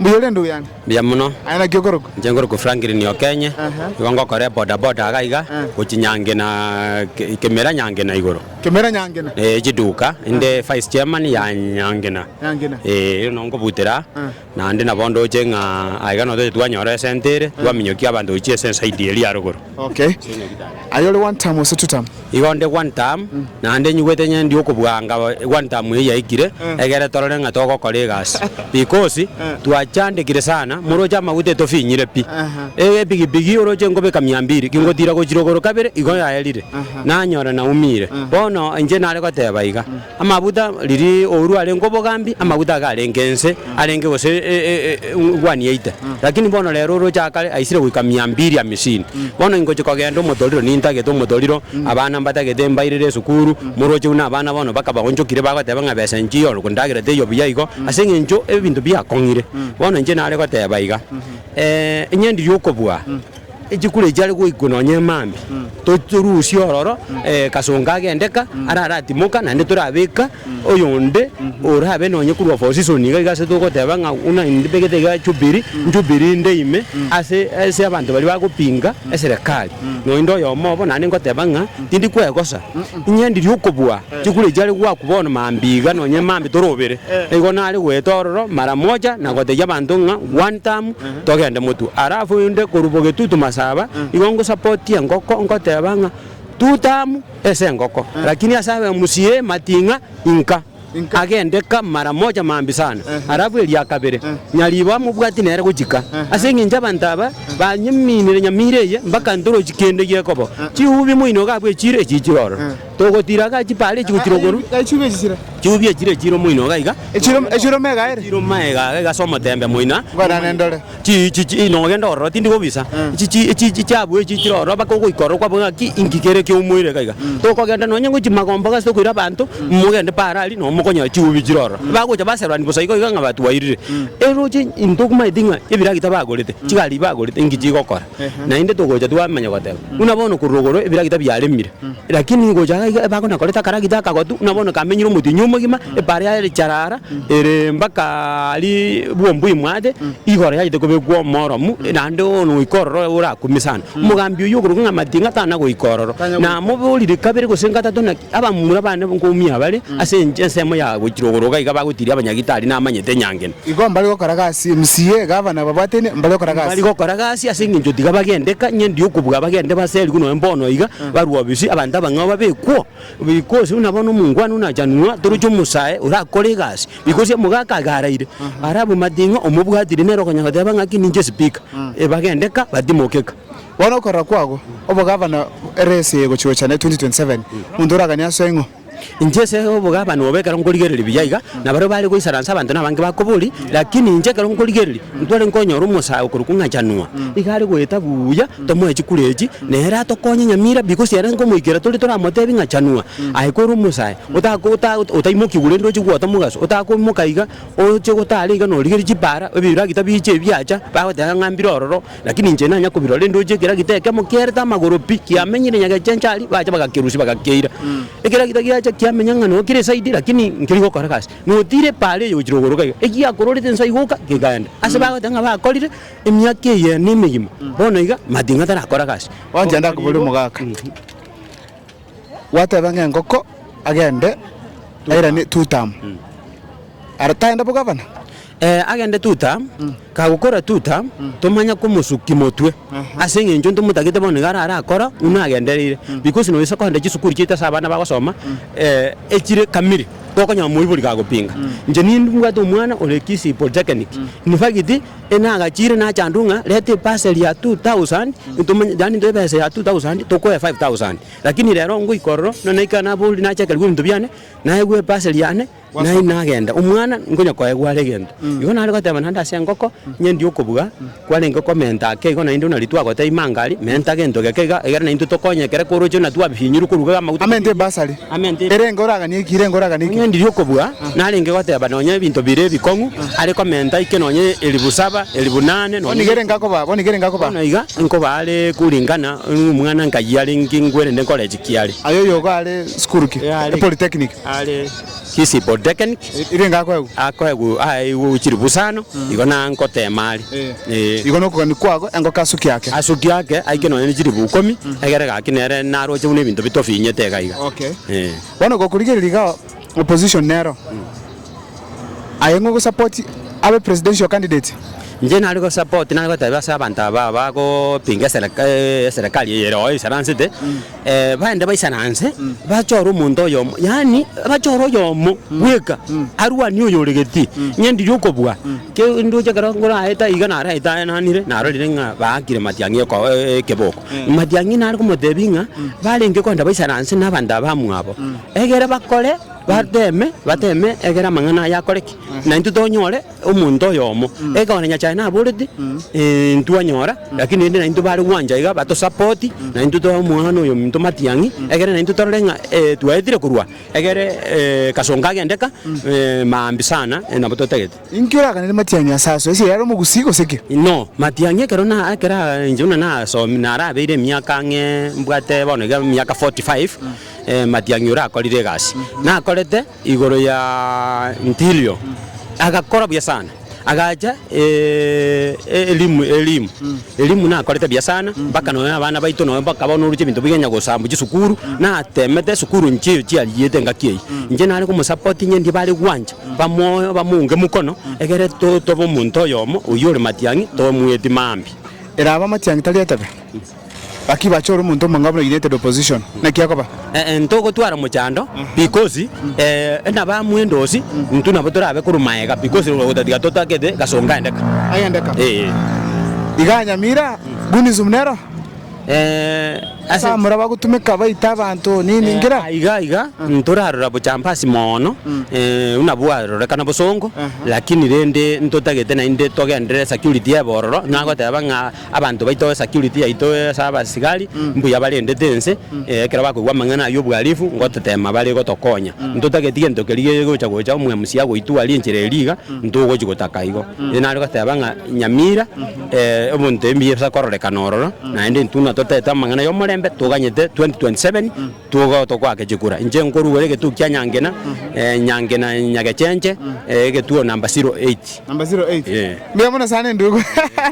Mbuya ore endugu yane. Mbuya muno. Aye naki okorokwa? Inche nkorokwa Franklin Okenye. Aha. Nigo ngokora eboda boda iga iga Eh. gochia Nyangena Ke- Kemera Nyangena igoro. Kemera Nyangena. Eh, chiduka inde vice chairman ya Nyangena. Nyangena. Eh, erio no nkobutera Eh. naende nabo ndoche ng'a aiga no toche twanyora esente ere twaminyokia abanto gochia ase ensaidi eria ya rogoro. Okay. Aye ore one term ase two term? Igo nde one term naende nyigwete onye ndi okobwanga one term eye yaikire egere torore ng'a togokora egasi because twachandekire sana moroche amaguta etofinyire pi eye epigipigi oroche nkobeka mia mbiri kingotira gochirogoro kabere igo yaerire nanyora naumire bono inche nare goteba iga. Amaguta riria ourwa arenge obogambi, amaguta iga arenge ense, arenge gose e- e- e- e- e- engwani yaito. Lakini bono rero oroche aa kare aisire goika mia mbiri amisini. Bono ingochi kogenda omotoriro nintagete omotoriro, abana mbatagete mbairire esukuru, moroche buna abana bono bakabaonchokire bagoteba ng'a besa enchio ore kondagera teiyo buya igo, ase eng'encho ebinto biakong'ire. Bono inche nare goteba iga, inye ndiri okobua. Echikura echi chiare goikwa nonya emambia, torusie ororo Kasongo agende ka, araratimoka naende torabeka oyonde orabe nonya korwa opposition iga iga ase togoteba ng'a buna nbegete iga Jubilee, Jubilee inde ime ase ase abanto baria bagopinga eserekari. Noende oyomo obo naende ngoteba ng'a tindi kwegosa, ing'endirie okobua chikura echi chiare goakwa bono mambia iga nonya emambia torobere. Igo nare goeta ororo mara moja na gotebia abanto ng'a one term, Togende motwe. Alafu inde korwa bogetutu masaba, igo ngosapotie engoko, ngoteba ng'a two term ase engoko, lakini ase abemusi ye mating'a inka agende ka mara moja maambi sana, alafu eria kabere nyariba mobwati nere gochika. Ase engencho abanto aba banyeminire nyamira eye mpaka ntorochi kende gekobo, chihubi moino gabwe echire echichire ororo. Togotira aka chipa aria echi gotira okoru. Aya chiubi echi chire. Chiubi echi chire echiro moino iga iga. Echiro echiro mega ere. Echiro mega iga iga ase omotembe moina. Nkorane ndore. Chi chi chi no ogende ororo tindi kobisa. Chi chi chi chi chiabu echi chire ororo baka ogoika ororo kwabonye ng'aki inki kere kia omoire iga iga. Tokogenda nonye ng'o chimagomba iga ase tokoira abanto mogende paaro aria no mokonyora chiubi chire ororo. Bagocha baserorani bosa igo iga ng'a batwairire. Eroche intwe tokobanyeti ng'a ebiragita bagorete, chigari bagorete inki chigokora. Naende togocha twamanya goteba, buna bono korwa igoro ebiragita biaremire, lakini gocha iga iga ebako nakorete akaragita akagotu, buna bono kamenyire omotienyi omogima, ebare yaye ere charara, ere mbaka aria bwomba oimwate, igoro yachete kobekwa omoromu, naende bono goika ororo oyo orakumie sana. Omogambi oyio okoruga ng'a amatinga tana goika ororo, namoborire kabere gose gatato naki abamura bane nkomi abare ase enche ensemo ya gochira igoro iga iga bagotiria abanyagitari namanyete nyangena. Igo mbare gokora gasi, MCA, gavana babwatene, mbare gokora gasi. Mbare gokora gasi ase engencho tiga bagendeka, ng'ende yokobua abagende baserigwe nonya mbono iga, barwa bisi abanto abang'ao babekwo, because buna bono omongwana buna achanwa, toroche omosae orakore egasi, because omogaka iga araire, ara abwo mating'a omobwatire nere okonya goteba ng'aki ninche speaker, bagendeka batimokeka. Bono okorora kwabo obogavana ere ase egochi gocha naye 2027, monto oragania asoe ng'o? Inche ase obogabani obo ekero nkorigereria buya iga, nabaria bare goisaransa abanto nabange bakobori, lakini inche ekero nkorigereria, ntware nkonyora omosae okorwa kong'achanwa, iga are goeta buya, tomoe chikura echi, nere atokonye nyamira bi gose ere nkomoikera tore toramotebi ng'a chanwa, aye kore omosae otako ota otaimokigwa rende oche gwoota omogaso, otakoimoka iga, oche gotara iga norigerie chipaara, ebiragita biche ebi biacha, bagoteba ng'a mbire ororo. Lakini inche nanya kobirora enduchi ekera gita ekemo kiarete amagoro pi, kiamenyire nyagecha enchari, bacha bagakerusia bagakeira. Ekera gita giacha kiamenya ng'a noo kere side lakini nkeri gokora gasi. Notiire epaara eye ogochire kogoro gaiga, egiakororete nsa iga oka, kegaenda. Ase bagoteba ng'a bakorire emiaka eye ne emegima, bono iga matinga tarakora gasi. Ocha ndakobore omogaka. Gwateba ng'a engoko agende airane two term. Ara tagenda bogavana? Ee, agende tuta, kagokora tuta, tomanya komosukia motwe, ase engencho ntomotagete bono nigo arare akora buna agendereire, because noyisa kogenda chisukuru chiaito ase abana bagosoma eh, echire kamili, gokonyora moibori kagopinga. Inche ni- nibwate omwana ore Kisii Polytechnic, in fact, enagachire nachandwa ng'a reta ebasari ya two thousand, ntomanye yaani ntoe ebesa ya two thousand tokoe five thousand, lakini rero ngoika ororo, buna naika nabori nachakera bibinto biane, naegwa ebasari yane. Naende nagenda, omwana nkonya koe gware egento. Igo nare goteba naende ase engoko, Nyendi okobuga, kwarenge komenta ake igo naende onari twagoteba imanga aria, menta gento geke iga, egere naintwe tokonywe ekere koroche buna twabifinyirwe koruga iga amaguta. Amenta ebasari. Amenta ebe. Erenge oraganie eki, erenge oraganie eki. Onyendirie okobuga, narenge goteba nonye ebinto bire ebikong'u, are komenta ike nonye elifu saba, elifu nane, nonye. Bono iga erenge akobaa, bono iga erenge akobaa. Bono iga nkobaa are kuringana nomwana nkayia are ngingwerende nkore eki kiare. Aye oyogo are sukuru ki? Epolytechnic. are Kisipo Dekenk, akoegwa aye igwe ochiri busano, igo na ngoteema are, ee. Igo nokogania kwago engoko asuki ake. Asuki ake aike nonya ne chiribu ikomi, egere gaki nere naroche buna ebinto bitofinyete iga iga, Okay. ee. Bono gokorigereria iga opposition nero aye ng'o support abe presidential candidate? Inche nare go support nare gotebia ase abanto aba abagopinga esereka eeh eserekari eye ere oo isaransete. baende baisana anse, bachore omonto oyomo, yaani bachore oyomo bweka arwanie oyore geti, ng'endi ri'okobua, kende oche ekero ngoraete aiga naro aetananire, narorire ng'a baakire matiang'i eko ekeboko. Matiang'i nare komotebia ng'a barenge kogenda baisana anse na abanto abamwabo, egere bakore bateme bateme egere amang'ana aya akore ki? Naintwe tonyore. Omonto oyomo, ekero na Nyasae naborete, eh, ntwanyora, lakini rende naintwe bare gwancha iga batosapoti, naintwe toe omwana oyo ominto matiang'i, egere naintwe torore ng'a eh, twaetire korwa egere eh, kasongo kagende ka, eh, maambi sana, eh, nabo totagete. Inki oraganere matiang'i ase aso? Asia yare omogusii gose ki? Inoo, matiang'i ekero na ekero aa inche buna nasomi narabeire emiaka ang'e mbwate bono iga emiaka forty five, eh, matiang'i orakorire egasi. Nakorete. igoro ya Ntilio, agakora buya sana, agacha Elimu, Elimu, Elimu nakorete buya sana, mpaka nonya abana baito nonya bakaba noruche ebinto biga onya gosambwa chisukuru, natemete esukuru inche eyo chiariyete engaki eyio, inche nare komosupport inye ndie bare gwancha, bamoe bamounge mokono, egere to tobe omonto oyomo oywo ore matiang'i, tobe omwetima mambia. Erabe amatiang'i tari etebe. Gaki bache ore omonto omong'ao buna United Opposition, naki akoba? Ee, ntogotwara mochando because ee nabo amwendo osi intwe nabo torabe korwa maega because otatiga totagete gasongo aendeka. Agendeka? Ee. Igaa Nyamira, Gunism nero? Ee, ase Asa amura bagotumeka baita abanto nini ngira? Ee, iga iga ntorarora bochambasi mono ee buna bwarorekana bosongo lakini rende ntotagete naende togenderere security y'ebororo nagoteba ng'a. Abanto baito, esecurity yaito ase abasigari mbuya barendete ense, ekero bakoigwa amang'ana ayio obwarifu ngototema bare gotokonya. Ntotageti gento keria gegocha gocha omwemsi agoitwaria enchera eria iga, ntogochi gotaka igo. Ere nare goteba ng'a Nyamira ebonto ebi mbisakororeka nororo, naende intwe natotete amang'ana yomorembe toganyete 2027. Tugo tokwake chikura. Inche nkorugore egetugi kia Nyangena, eh, Nyangena Nyagechenche, eh, egetuo number zero eight. Number zero eight. Eh. Mbuya mono sana endugu.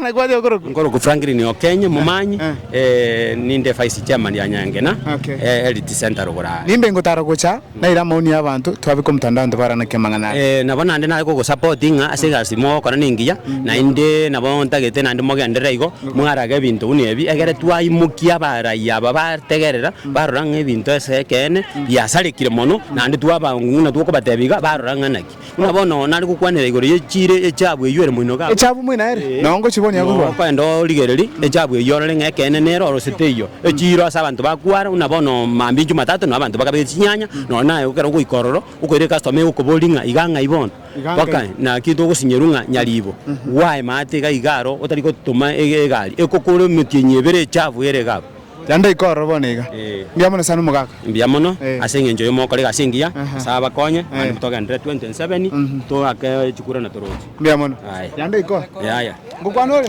Na kwaria okorokwa. Nkorokwa Franklin Okenye, momanyi, eh. eh, ninde vice chairman ya Nyangena, Okay. eh, Elite Center Rogora. Nimbe ngotara gocha naira amaoni y'abanto twabeka omotandao nto baranake amang'ana aya. Eh, nabo naende naye gogosupport ng'a ase egasi mogokora nengiya, naende nabo ntagete naende mogenderere igo, Mwarage ebinto buna ebi, egere twaimokia abarayia aba bategerera, barora ng'a ebinto ase ekeene biasarekire mono, naende twabang'u ng'ina tokobatebia iga, barora ng'a naki. Buna bono nonya nare gokwanera igoro ye chiire echabu eyio ere moino gabo. Echabu moino ere, na ongochi bono Nonya yakorwa. okoenda origererie echabu eyio orore ng'a ekeene nere orosire teiyo. Echiiro ase abanto bakwara, buna bono mambincho matato, nonya abanto bakabe chinyanya, nonya naye ekero ogoika ororo, okoira ecustom egokoboria ng'a iga ng'ai bono. Bakae, Naki togosinyeru ng'a nyariibo gwaye maate iga iga aro otari gotoma egari ekokora emetienyi ebere echafu ere iga abwo? Naende iko ororo bono iga. Mbuya mono sana omogaka. Mbuya mono ase engencho y'omogokora egasi engiya. Nyasae abakonye mambia motogenderere 27 toake chikura na toroche. Mbuya mono. Naende iko. Yaya. Ngokwana ore.